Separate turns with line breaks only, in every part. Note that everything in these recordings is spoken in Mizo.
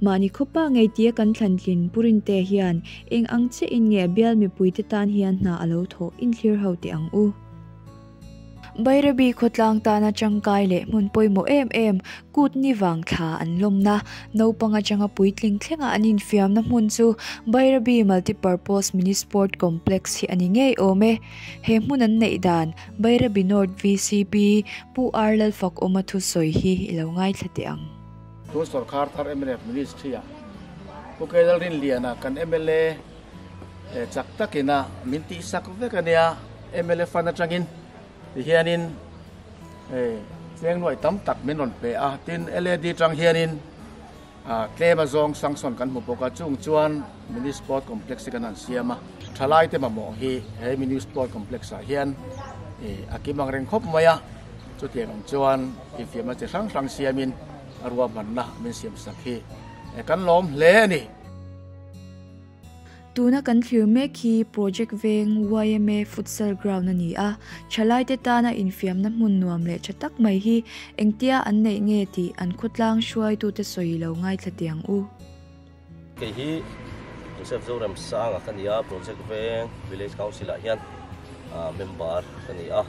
Mahni khawpa ngeitia kan thlantlin purinte hian eng ang che in nge bial mipuite tan hian hna a lo thawh in thlir ho teh ang u. Bairabi khawtlang tana tangkai leh hmun pawimawh em em kut ni vang thla an lawmna naupang atanga puitling thlengah an infiamna hmun chu Bairabi Multipurpose Mini Sport Complex hi a ni ngei awm e. He hmun an neih dan Bairabi North VCP Pu Arlalfakawma thusawi hi i lo ngaithla teh ang. Tun sawrkar
thar mnf ministry-a Pu Kei Lalrin Liana kan mla eh chak takin a min tih sak vek a nia, mla fund atangin ti hianin eh tleng nuai tam tak min rawn pe a, tin LAD atang hianin ah tlem azawng sanction kan hmu bawk a, chung chuan Mini Sport Complex hi kan han siam a, thalaite mamawh hi he Mini Sport Complex-ah hian eh a kim angreng khawp mai a. Chutiang in chuan infiamna chi hrang hrang siamin a ruahmanna min siamsak hi kan lawm hle a ni. Tuna kan thlir mek hi project veng yma futsal ground a ni a, thalaite tana infiamna hmun nuam leh tha tak mai hi engtia an neih nge tih an khawtlang hruaitute sawi lo ngaithla tiang u. Kei
hi Joseph Zoram Sanga ka nia, Project Veng Village Council ah hian member ka ni a,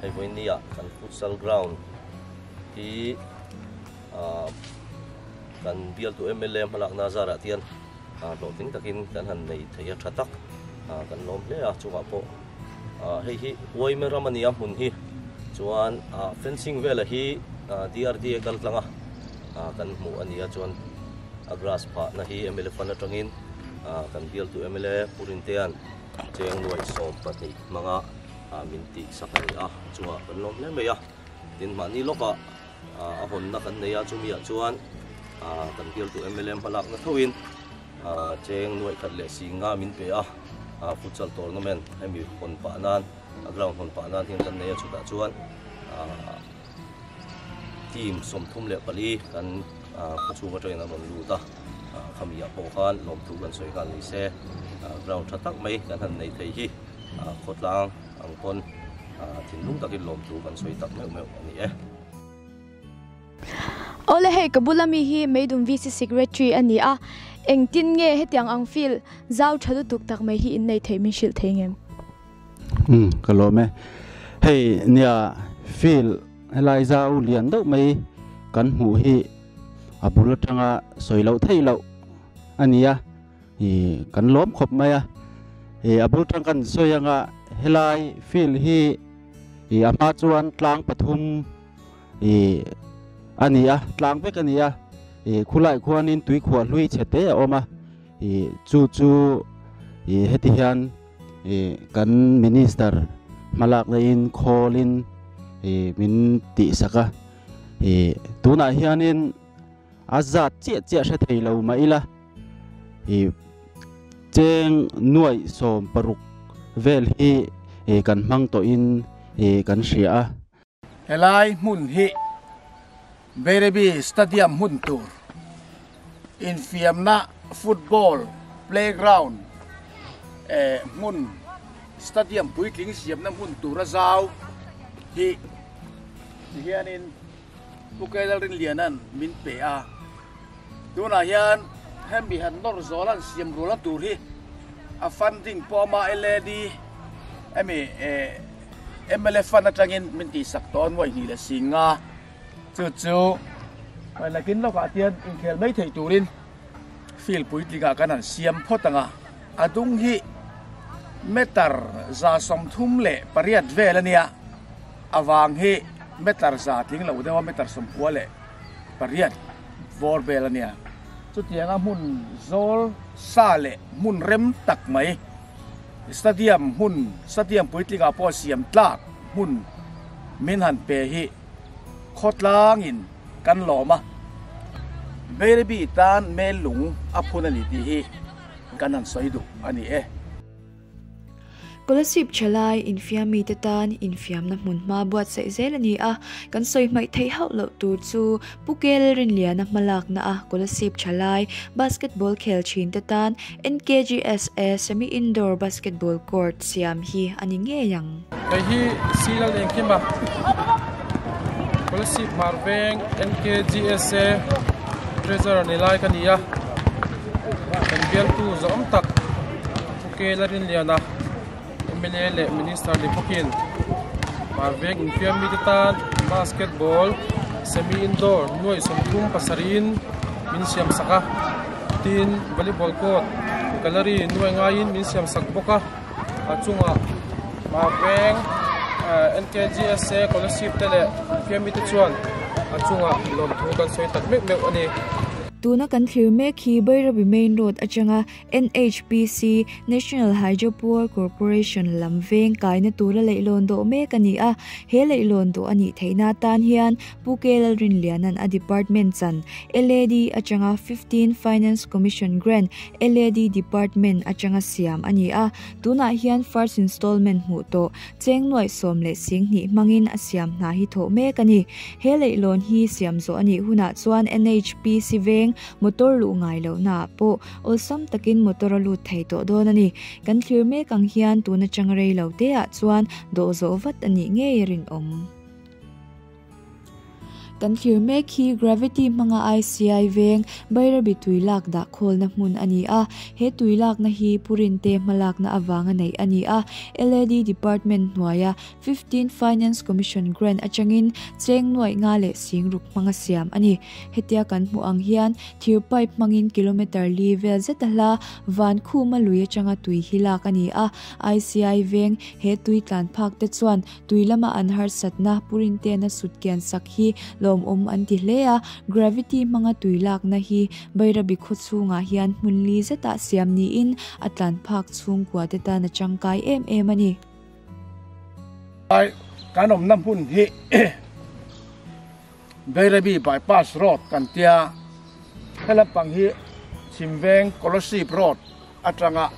hei vawiini ah kan futsal ground hi kan bialtu MLA hmalakna zar ah tian hlawhtling takin kan han nei thei a tha tak kan lawm hle a, chungah pawh. Hei hi Uaime ram a ni a hmun hi. Chuan fencing vel a hi DRD a kal tlang a, kan hmuh a ni a. Chuan a grass phah na hi MLA fan atangin kan bialtu MLA Purin te'n cheng nuai sawm pahnih hmanga min tihsak a ni a. Chungah kan lawm hle mai a. Tin mahni lawkah. A hawnna kan nei a, chumi ah chuan kan bialtu mla hmalakna thoin cheng nuaih khat leh si nga min pe a, futsal tournament hemi hawn pah nan a ground hawn pah nan hian kan nei a, chutah chuan team sawmthum leh pali kan khawchhung atangin an rawn lut a, khami ah pawh khan lawmthu kan sawi nghal nise ground tha tak mai kan han nei thei hi khawtlang. Ang khawn thinlung takin lawm chu kan sawi tak meuh meuh a ni e.
Awle hei ka bula mi hi Meidum VC Secretary a ni a, engtin nge hetiang ang feel zau tha lutuk tak mai hi in nei thei min hrilh thei ngem? Umm
ka lawm e. Hei nia feel helai zau lian deuh mai kan hmuh hi a bul atanga sawi loh theih loh a ni a. Hi kan lawm khawp mai a, ih a bul tang ka in sawi anga helai field hi ih a hma chuan tlang pathum ih a ni a, tlang vek a ni a, ih khulaiah khuanin tuikhuah hlui chhe te a awm a, ih chu chu ih heti hian ih kan minister hma lak laiin khawlin ih min tihsak a, ih tunah hianin a zat chiah chiah hre thei lo mah ila. Ih cheng nuaih sawm paruk vel hi ih kan hmang tawh in ih kan hria a. Helai
hmun hi Berebi Stadium hmun tur infiamna football playground eh hmun stadium puitling siamna hmun tura zau hi ti hian in Pu Kei Lalrinliana'n min pe a, tunah hian heng biahen nawr zawla an siam rual a tur hi a funding pawh ama e led i emi e mla fund atangin min tihsak tawh a nuaih hnih leh si nga chu chu hnaih nakin lawkah hian inkhel mai theih turin field puitlingah kan han siam phawt ang a, a dung hi meter za sawmthum leh pariat vel a nia. A vang hi meter za tling lo deuha meter sawmpua leh pariat vawr vel a nia. Chutianga hmun zawl sa leh hmun rem tak mai, stadium hmun, stadium puitlingah pawh siam tlak hmun min han pe hi khawtlangin kan lawm a. Beiribi tan mel lung a phun a ni tih hi kan han sawi duh a ni e. Scholarship
che lai infiam mi te tan infiamna hmun hma buatsaih zel a ni a, kan sawi hmaih theih hauh loh tur chu Pu Kel Rinliana hmalakna a scholarship che lai basketball khel thin te tan NKGSA Semi Indoor Basketball Court siam hi a ni ngei ang. Hei hi
Sri Lal Engkima Scholarship hmar veng NKGSA Treasurer ni lai ka ni a, kan bialtu zawm tak. Khuke la rinlian a, mla leh minister ni bawkin aa veng infiam mi te tan basketball semi indoor nuaih sawmthum pasarih-in min siam sak a, tin volleyball court gallery nuaih ngaiin min siam sak bawk a, a chungah aa veng NKGSA scholarship te leh infiam mi te chuan a chungah lawmthu kan sawi tak meuh meuh a ni. Tuna kan
thlir mek hi Bhairavi main road atanga. NHPC, National Hydro Power Corporation, lam veng kaina tura leihlawn dawh mek a ni a. He leihlawn dawh a nih theihna atan hian Pu Kela Rinliana'n a department chan, LAD, atanga fifteen Finance Commission Grant, LAD, department atanga siam a ni a. Tunah hian first installment hmuh tawh cheng nuaih sawm leh sing hnih hmangin a siam hna hi thawh mek a ni. He leihlawn hi siam zawh a nih hunah chuan NHPC veng motor luh ngai lohnaah pawh, awlsam takin motor a lut thei tawh dawn a ni. Kan thlir mek ang hian tun atang rei lo te ah chuan dawh zawh vat a nih ngei a rinawm. Kan thlir mek hi Gravity hmanga ICI veng Bairabi tui lak dah khawlna hmun a ni a. He tui lakna hi Purinte hmalakna avanga neih a ni a, LED department hnuaia Fifteen Finance Commission Grant atangin cheng nuai nga leh sing ruk hmanga siam a ni. Hetia kan hmuh ang hian thir pipe hmangin kilometre li vel zeta hla van khuma lui atanga tui hi lak a ni a. ICI veng he tui tlan phak te chuan tui lama an harsatna, purin te na sut kian sak hi lawmawm an ti hle a. Gravity hmanga tui lakna hi Bairabi khaw chhungah hian hmun li zetah siam niin a tlan phak chhungkua te tan a tangkai em em a ni.
Kan awmna hmun hi Beirabi Bypass Road kan ti a, he lampang hi Chimveng Colossepe Road atanga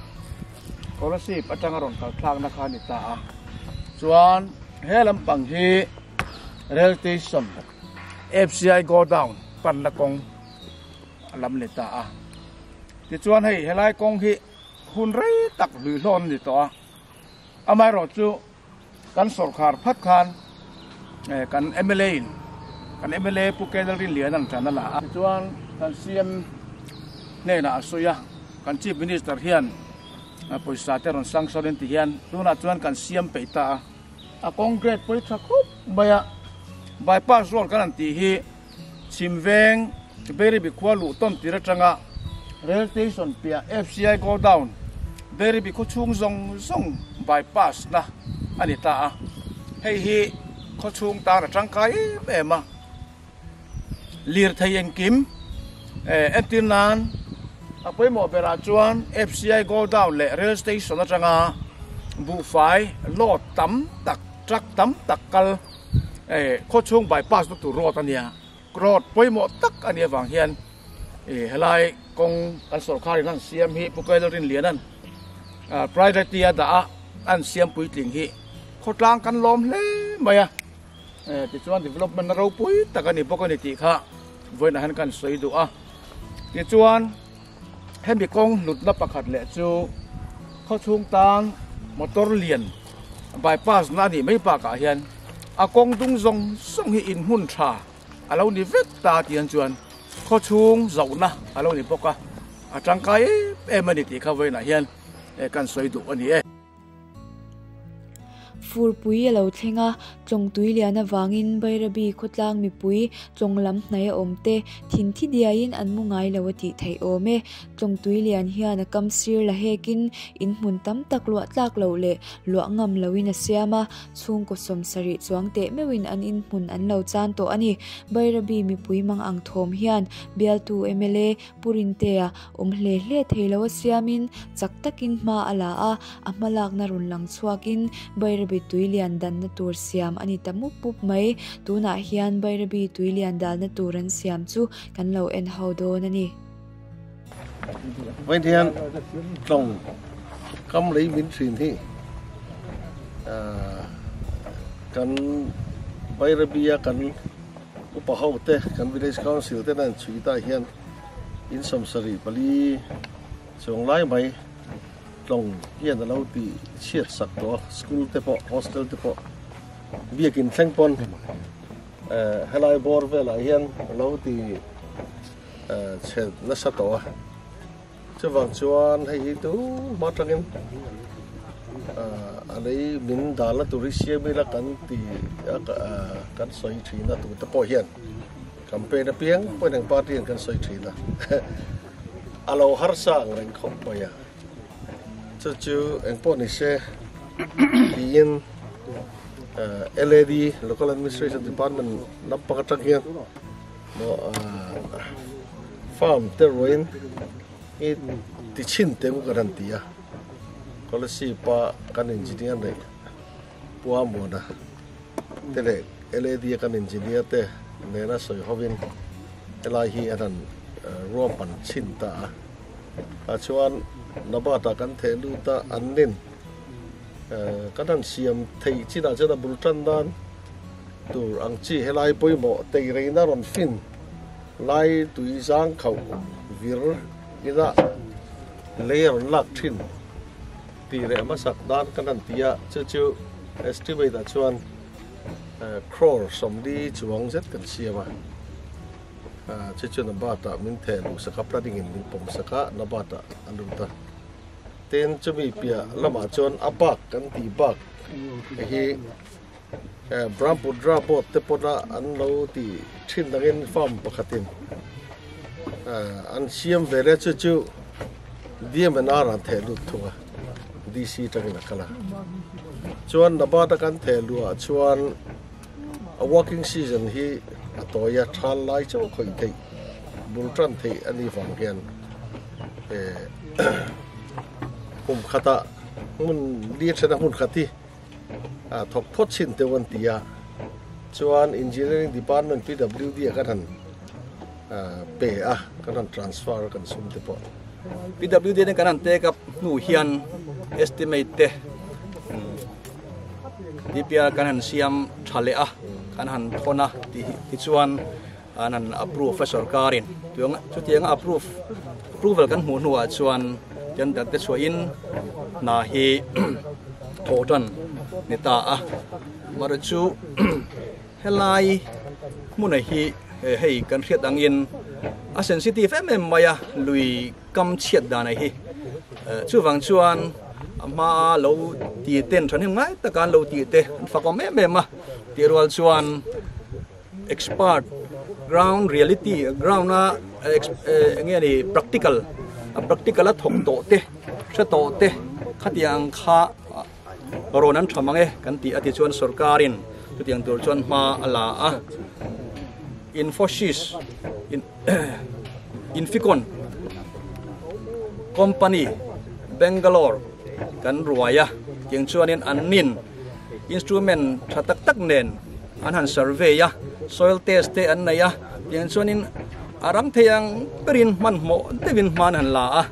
Colossepe atanga rawn kal thlakna kha a ni ta a. Chuan he lampang hi Rail Station FCI Go Down panna kawng a lam a ni ta a. Tichuan hei helai kawng hi hun rei tak hlui hlawn a ni tawh a. Amaherawh chu kan sawrkhar phat khan kan mla in kan mla Pu Kennel Rinlian an tan a la a. Tichuan kan CM hnenah a sawi a, kan Chief Minister hian pawisa te rawn sanction in ti hian tunah chuan kan siam peih ta a. A Congress pawitha khawp mai a bypass road kan an tih hi. Chhimveng, Beiribi khua luh tawn tir atanga Rail Station piah FCI Godown, Beiribi khawchhung zawng zawng bypass na a ni ta a, hei hi khawchhung tan a tangkai em em a. Lirthei engkim entir nan a pawimawh berah chuan FCI Godown leh Rail Station atanga buhfai load tam tak truck tam tak kal eh khaw chhung bypass na tur road ania road pawimawh tak a nih avang hian eh helai kawng kan sorkar in an siam hi Pu Kailawl Rinliana ah private a dah a an siam puitling hi khawtlang kan lawm hle mai a eh tichuan development na ropui tak a ni bawk a ni tih kha vawiinah hian kan sawi duh a tichuan Hemi kawng hlutna pakhat leh chu khawchhung tan motor lian bypass na a nih mai bakah hian a kawng dung zawng zawng hi inhmun tha a lo ni vek ta tiang chuan khawchhung zohna a lo ni bawk a, a tangkai em em a ni tih kha vawiinah hian kan sawi duh a ni e.
Furpui a lo thleng a, tlawngtui lian avangin Bairabi khawtlang mipui tlawng lam hnai a awm te, thin thi diain an mu ngai lo a tih theih awm e. Tlawngtui lian hian a kam sir la hekin in hmun tam tak luah tlak loh leh luah ngam loin a siam a, chhungkaw sawm sarih chuang teh meuhin an in hmun an lo chan tawh a ni. Bairabi mipui mang ang thawm hian bialtu mla, Purin tea awm hle hle thei lo a siamin chak takin hma a la a, a hma lakna rawn lang chhuakin Bairabi tui lian danna tur siam a ni ta mup mup mai. Tunah hian Bairabi tui lian dalna tur an siam chu kan lo en ho dawn a ni.
Vawiin hian tlawng kam lei min hrin hi kan Bairabia kan. Upa ho te, kan Village Council ten a inchhui tah hian in sawm sarih pali chuang lai mai tlawng hian a lo ti chhiat sak tawh a, school te pawh, hostel te pawh biakin thleng pawn helai bawr velah hian a lo ti chhe nasa tawh a. Chuvang chuan hei hi tu hma atangin a lei min dal a tur hi siam ila kan ti a kan sawi thin a tute pawh hian campaign apiang pawn ang party an kan sawi thin a a lo harsa ang reng khawp mai a chu chu engpawh ni se tiin LAD local administration department lampang atang hian Farm te ruin i ti chin te ngu kan han ti a, scholarship a kan engineer nei Pua Muana te leh LAD a kan engineer te nena sawi hovin helai hi an han ruam pan chin ta a. Kha chuan Nabat ah kan theh lut a, an nen kan han siam theih chinah chuan a bul tan nan. Tur ang chi helai pawimawh teireina rawn fin lai tui zang khauh vir ina lei a rawn lak thin tih leh hmasak dan ka han ti a, chu chu estimate ah chuan crore sawmli chuang zet kan siam a, chu chu na bat ah min theh luh sak a, planning in min pawm sak a, na bat ah a lut a. Tin chumi piah lamah chuan a bak kan tih bak hi. Brahmputra boat te pawh a an lo ti thin angin farm pakhatin an siam ve le chu chu DMNR an theh lut thung a DC tangin a kal a chuan Nabat a kan theh lua chuan a working season hi a tawia thal lai chu khawih theih bul tan theih ani vang hian e hum khata mun li thena mun khati a thawk phawt chhin teuh an ti a, chuan engineering department PWD ah kan han pe a, kan han transfer a kan sum te pawh. PWD atin
kan han take up hnu hian estimate te DPR kan han siam tha leh a, kan han thawn a tih hi chuan an an approve a sorkarin chuang chutiang approve approval kan hmuh hnuah chuan tender te chhuahin hna hi thaw tan ni ta a mara chu helai hmuna hi hei kan hriat angin a sensitive em em mai a lui kam chhiat dan hi chu wang chuan ama lo ti ten thanin ngai takan lo ti te fakom em em a ti rual chuan expert ground reality ground a eng nge ni practical a practical a thawk tawh te hre tawh te khatiang kha rawn an tham ang e kan ti a ti chuan sorkarin chutiang tur chuan hma a la a infosys in inficon company bangalore kan ruaia tiang chuanin an nin instrument tha tak tak nen an han survey a soil test te an nei a tiang chuanin a ram thei ang berin hmanhmawh deuhin hman han la a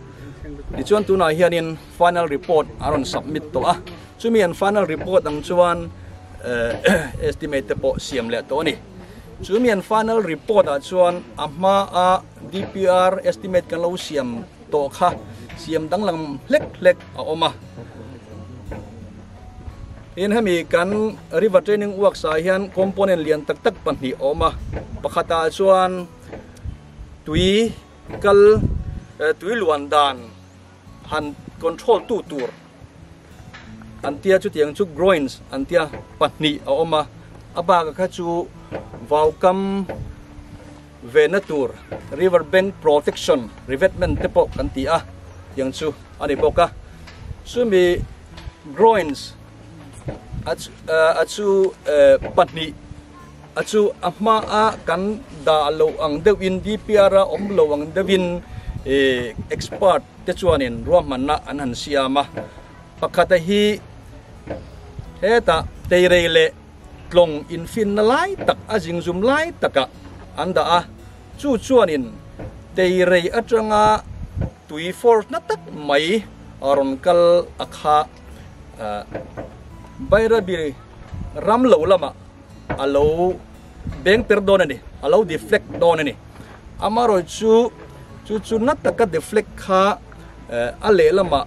tichuan tunah hianin final report a rawn submit tawh a chumi an final report ang chuan eh, estimate te pawh siam leh tawh ni chumi an final report a chuan a hma a DPR estimate kan lo siam tawh kha siam danglam hlek hlek a awm a Tin hemi kan river training workshop hian component lian tak tak pahnih a awm a pakhata chuan tui kal eh, tui luan dan han control tu tur an tia chu tiang chu groins an tia pahnih a awm a a baka kha chu vaukam vehna tur river bank protection revetment te pawh kan ti a tiang chu a ni bawk a chumi groins a a chu pahnih a chu a hma a kan dah lo ang deuh in DPR a awm lo ang deuh in expert te chuanin ruahmanna an han siam a pakhat a hi hetah teirei leh tlawng infinna lai tak a zingzum lai takah an dah a, chu chuanin teirei atanga tui fawr hna tak mai a rawn kal a kha. Bairabi ram lo lamah a lo bengter dawn a ni, a lo deflect dawn a ni. Amarawih chu chu chu na taka deflect kha a lehlamah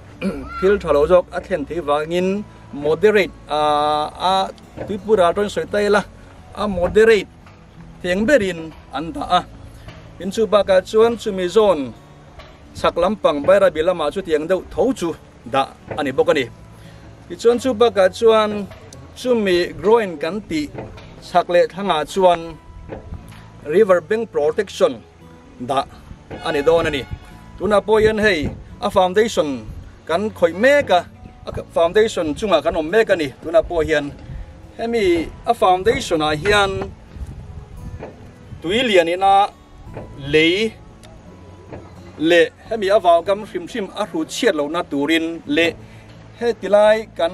thil tha lo zawk a thlen thei vangin, Moderate a Tripura atangin sawi ta ila a moderate theng berin an dah a. Tin chu bakah chuan chumi zone chhak lampang Bairabi lamah chu tiang deuh tho chu dah a ni bawk a ni. Tichuan chu bakah chuan chumi groin kan tih chhak leh thlangah chuan river bank protection dah a ni dawn a ni. Tunah pawh hian hei a foundation kan khawih mek a, a foundation chungah kan awm mek a ni. Tunah pawh hian hemi a foundation ah hian tui lian ina lei leh hemi a vaugam hrim hrim a hru chhiat lohna turin leh heti lai kan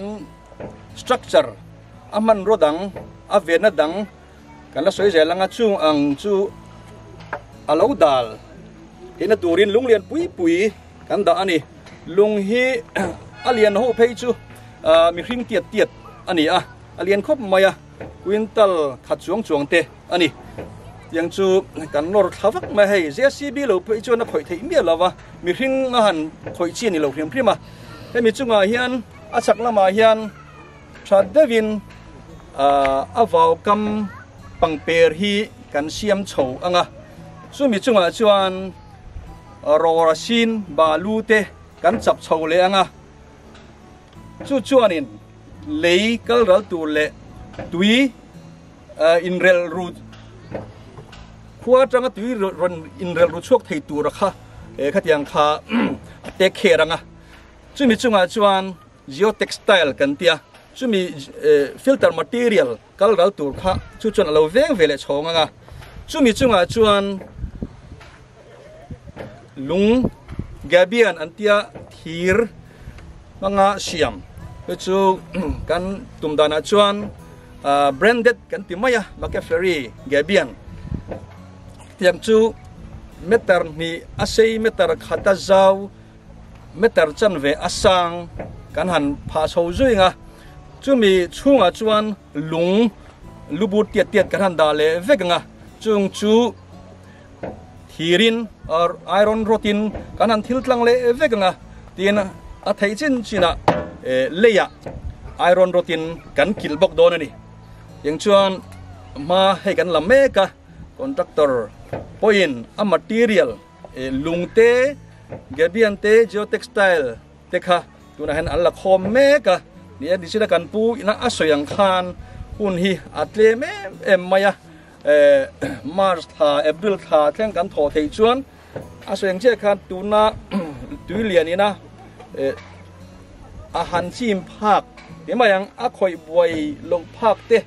structure a hmanraw dang a venna dang, Kan la sawi zel ang a, chung ang chu a lo dal hina turin lung lian pui pui kan dah a ni. Lung hi a lian ho phei chu mihring tiat tiat a ni a, a lian khawp mai a, quintal khat chuang chuang te a ni. Tiang chu kan nawr thla vak mai a hei, JCB lo phei chuan a khawih theih miah lo va, mihring a han khawih chi a ni lo hrim hrim a. Hemi chungah hian a chhak lamah hian, That deuhin a vaukam pangper hi kan siam chho ang a, chumi chungah chuan rawrasin balu te kan chap chho leh ang a, chu chuanin lei kal ral tur leh tui inrelru khua atanga tui inrelru chhuak thei tur kha khatiang kha a take kher ang a, chumi chungah chuan. Geotextile kan ti a, chumi filter material kal ral tur kha chu chuan a lo veng ve leh chhawng ang a, chumi chungah chuan lung gabian an tia thir hmanga siam te chu kan tum danah chuan branded kan ti mai a McAffery gabian tiang chu meter hnih a sei meter khat a zau Meter chanve a sang kan han phah chho zuing a, chumi chhungah chuan lung lu but tiat tiat kan han dah leh vek ang a, chung chu thir in iron rod in kan han thil tlang leh vek ang a, tin a theih chin chin ah lei ah iron rod in kan kilh bawk dawn a ni, tiang chuan hma hei kan la mek a, contractor pawhin a material, Lungte, Gabion te, Geotextile te kha tunah hian an la khawm mek a nia. Tichuan kan pu ina a sawi ang khan hun hi a tlem em em mai a. March tha, April tha thleng kan thaw theih chuan a sawi ang chiah khan tuna tui lian ina a han chim phak ti mai ang. A khawih buai loh phak te.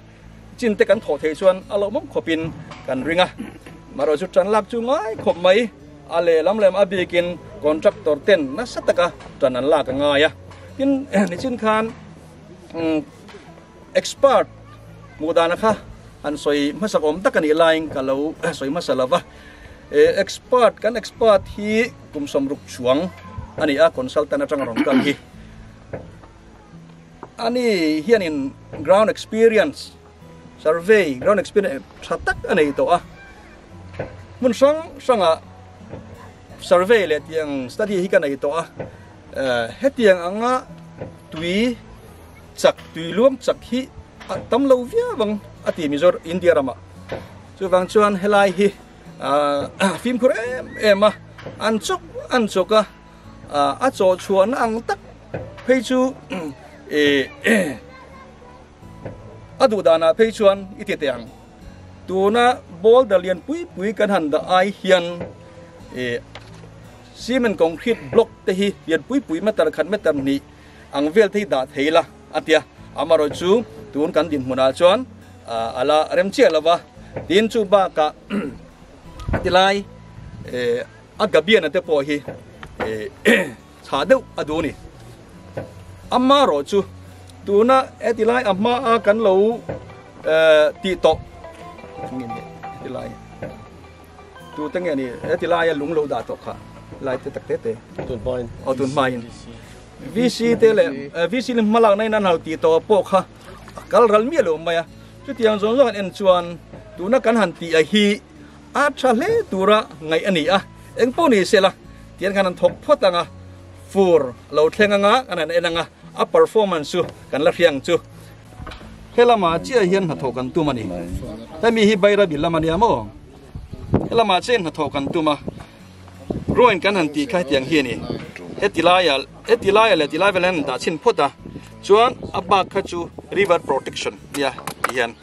Chin te kan thawh thei chuan a lo mawm khawp in kan ring a. Marawi chu tan lak chu ngai khawp mai. A lehlam lem a bik in contractor ten nasa taka tan an lak a ngai a. Tin nichin khan expert hmuh dana kha an sawi hmasa awm tak a nih lai in ka lo sawi hmasa lo va. Expert kan expert hi kum sawm ruk chuang a ni a consultant atang rawn kal hi. ani hianin ground experience survey ground experience tha tak a nei tawh a hmun hrang hranga survey leh tiang study hi ka nei tawh a hetiang anga tui chak tui luang chak hi a tam lo viau vang a ti mizor india rama chu vang chuan helai hi fimkhur em em a an chok an choka A chawhchhuahna ang tak phei chu a duhdanah phei chuan i ti teh ang. Tuna boulder lian pui pui kan han dah ai hian cement concrete block te hi lian pui pui meter khat meter hnih ang vel te hi dah thei la a tia. Amarawh chu tun kan din hmunah chuan ala rem chiah lova tin chu bakah tilai a gabiana te pawh hi chha deuh a duh a ni ama rawh chu tuna etilai a hma a kan lo ti tawh ngin etilai tu te nge ni etilai a lung lo da tawh kha lai te tak te te tun hmain o tun hmain VC te le VC le hmalak nai nan hal ti to po kha kal ral mi lo mai a chu tiang zon zon en chuan tuna kan han ti a hi A tha hle tura ngaih a ni a, eng pawh ni se la tian khan an thawk phawt ang a, fur a lo thleng anga an han en ang a, a performance chu kan la hria ang chu. He lama chiah hian hnathawh kan tum a ni, hemi hi Bairabil lam a nia maw? He lamah chiahin hnathawh kan tum a, ruangin kan han tih kha hetiang hi a ni, he ti laia he ti laia leh ti lai velah hian an dah chhin phawt a, chuan a bak kha chu river protection a nia tih hian.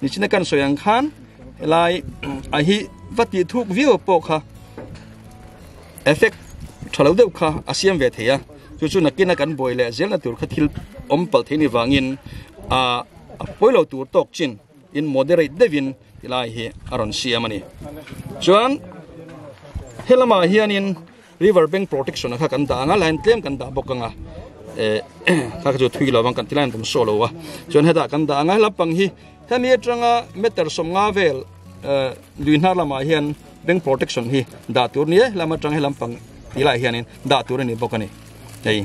Nichina kan sawi ang khan helai a hi va ti thuk viau pawh kha effect thalo deuh kha a siam ve thei a chu chu nakina kan boi le zel na tur kha thil om pal thei ni wangin a poilo tur tawk chin in moderate devin tilai hi aron siam ani chuan helama hianin River bank protection kha kan dah anga line tlem kan dah bawk anga eh kha chu thui lovang kan ti line kan show lo a chuan heta kan dah anga lampang hi khami atanga meter sawmnga vel eh lui hnar lamah hian bank protection hi dah tur ni eh lam atang hi lampang ti lai hianin dah tur ani bawk ani hei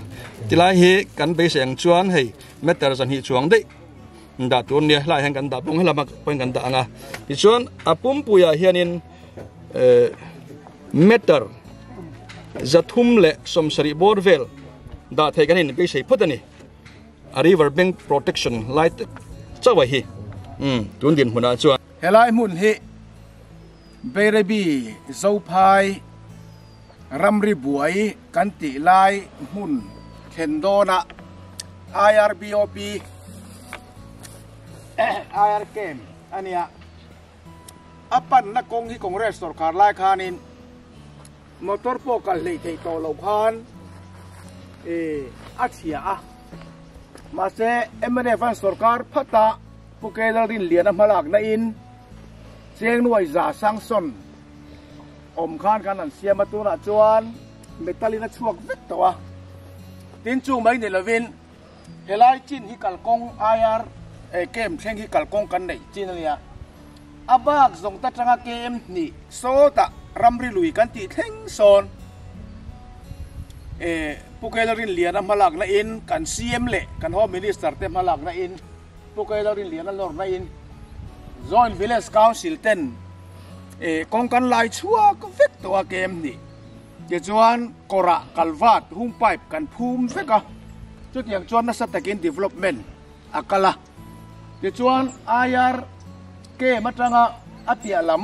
tilai hi kan beisei ang chuan hei meter zahnih chuang dei dah tur ni lai hian kan dah bawk hlama pawhin kan dah anga tichuan a pumpuiah hianin eh matter zathum leh sawmsarih bawr vel dah theih kan in beisei phawt a ni a river bank protection lai tak chauh a hi umm tun dinhmunah chuan helai hmun hi
Beirebi Zophai ramri buai kan tih lai hmun thlen dawna IRBOP IRCAM a nia. A panna kawng hi Congress sorkar lai khanin motor pawh kal hleih theih tawh loh khan a chhia a. Mahse mnf an sorkar phata Pu Kei Lalrin liana hmalak nain Chengnuai za Sangson awm khan kan rawn siam a, tunah chuan metal in a chhuak vek tawh a. Tin chung mai ni lovin, Helai chin hi kalkawng IR KM thleng hi kalkawng kan neih chin a nia. A bak zawngte atanga KM hnih sawtah ramri lui kan tih thleng sawn Pu Kela Rinliana hmalak nain kan CM leh kan Home Minister te hmalak nain Pu Kela Rinliana lawr nain Joint Village Council ten kawngkanlai chhuak vek tawha KM hnih Tichuan kawrah kalvat hung pipe kan phum vek a, chutiang chuan nasa takin development a kal a. Tichuan aiar kem atanga a piah lam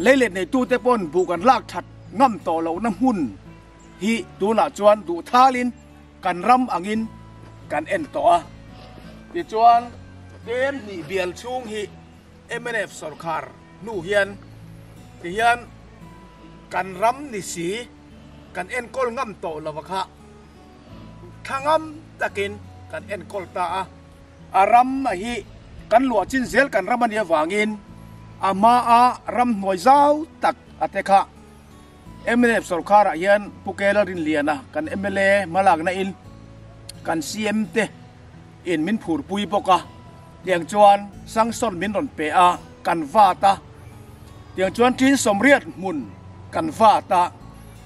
lei let neitute pawn buh kan lak that ngam tawh lohna hmun hi tunah chuan duhthalin kan ram angin kan en tawh a. Tichuan kem hnih bial chhung hi. Mnf sorkar hnu hian ti hian kan ram nisi kan enkawl ngam tawh lova kha thla ngam takin kan enkawl ta a. A ram a hi kan luah chin zel kan ram a nih avangin a hma a ram hnuai zau tak a te kha. Mnf sorkarah hian Pu Kela Rinliana kan mla hmalakna in kan CM te in min phurpui bawk a, tiang chuan sanction min rawn pe a, kan vat a, tiang chuan Tin Sawmriat hmun kan vat a,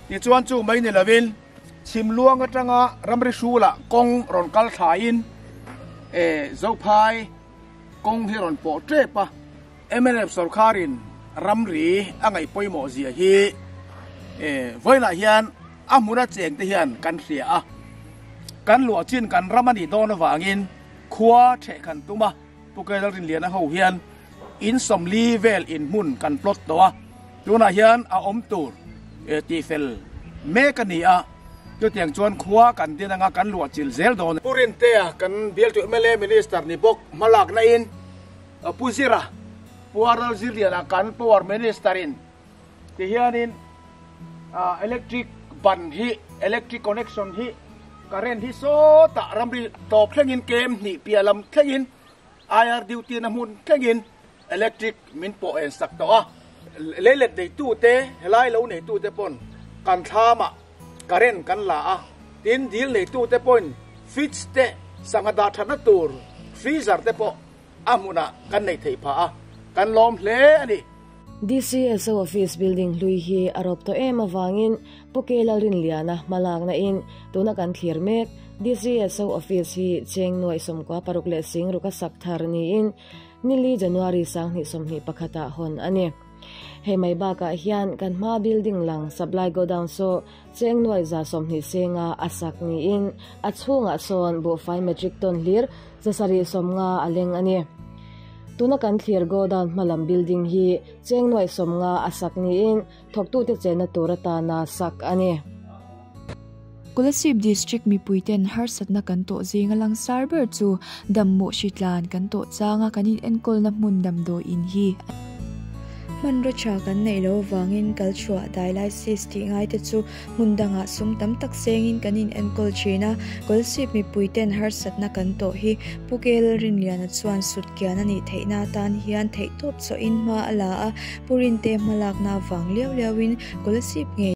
tichuan chu mai ni lovin chhim luang atanga ramri hrulah kawng rawn kal thlaiin Zophai, kawng hi a rawn pawh tep a. Mnf sorkarin ramri a ngaih pawimawh zia hi vawilah hian a hmun a cheng te hian kan hria a, kan luah chin kan ram a nih dawn avangin khua theh kan tum a, Pu Kailalrinliana ho hian insawmli vel inhmun kan plot tawh a. Tunah hian a awm tur tih fel mek a ni a, chutiang chuan khua kan din anga kan luahchilh zel dawn. Pu Rintea kan bialtuih mla Minister ni bawk hmalakna in Pu Zira, Pu Aral Zirliana kan Power Minister in ti hianin electric ban hi, electric connection hi, current hi sawtah ramri tlawp thlengin kem hnih piah lam thlengin, IRDU tina hmun thlengin Electric min pawh en sak tawh a, lei let neitu te helai lo neitu te pawn kan thlam a current kan la a, tin dil neitu te pawhin fridge te sangha dah thatna tur freezer te pawh a hmun ah kan nei thei pha a, kan lawm hle a ni. DCSO
office building hlui hi a rawp tawh em avangin Poke Lalrin Liana hmalakna in tuna kan thlir mek, DCSO office hi Chengnuai sawmkua paruk leh sing ruka sak thar niin, Nili January sanghnih sawmhnih pakhatah hawn a ni. Hei mai bakah hian kan hma building lang supply godown saw chengnuai za sawmhnih senga a sak niin a chhungah sawn buhfai metric ton hlir za sarih sawmnga a leng a ni. Tuna kan thlir godown hmalam building hi chengnuai sawmnga a sak niin thawktute chenna tur atana sak a ni.
Kolasib District mipuiten harsatna kan tawh zinga langsar ber chu Dammuh hri tlan kan tawh changa kan in enkawlna hmun damdawi in hi a ni. Hmanraw tha kan neih lo vangin kalchhuah dailai sis tih ngaite chu Hmun dangah sum tam tak sengin kan inenkawl thin a, Kawlsip mipui ten harsatna kan tawh hi Puke Lalrinliana chuan sut kian a nih theihna atan hian theih tawp chawhin hma a la a, Pu Rinte hma lakna avang liau liauin Kawlsip ngei.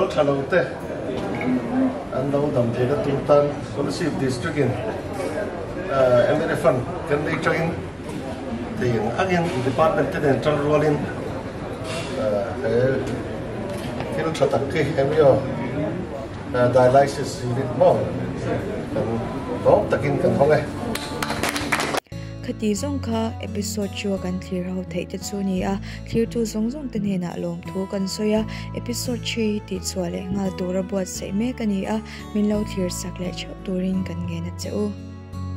Kal tha lo te an lo dam theih na tur tan Solisih District in MLA Fund kan nei tang in thei ang ang in Department te nen tan rual in he thil tha tak khi MLA Dialysis Unit maw kan zawng tak in kan hawng e. Khati
zawng kha episode chu a kan thlir ho theih te chu a ni a, Thirtu zawng zawng te hnenah lawmthu kan sawi a, Episode three hi tihchhuah leh nghal tura buatsaih mek a ni a, min lo thlir sak leh theuh turin kan ngen a che u.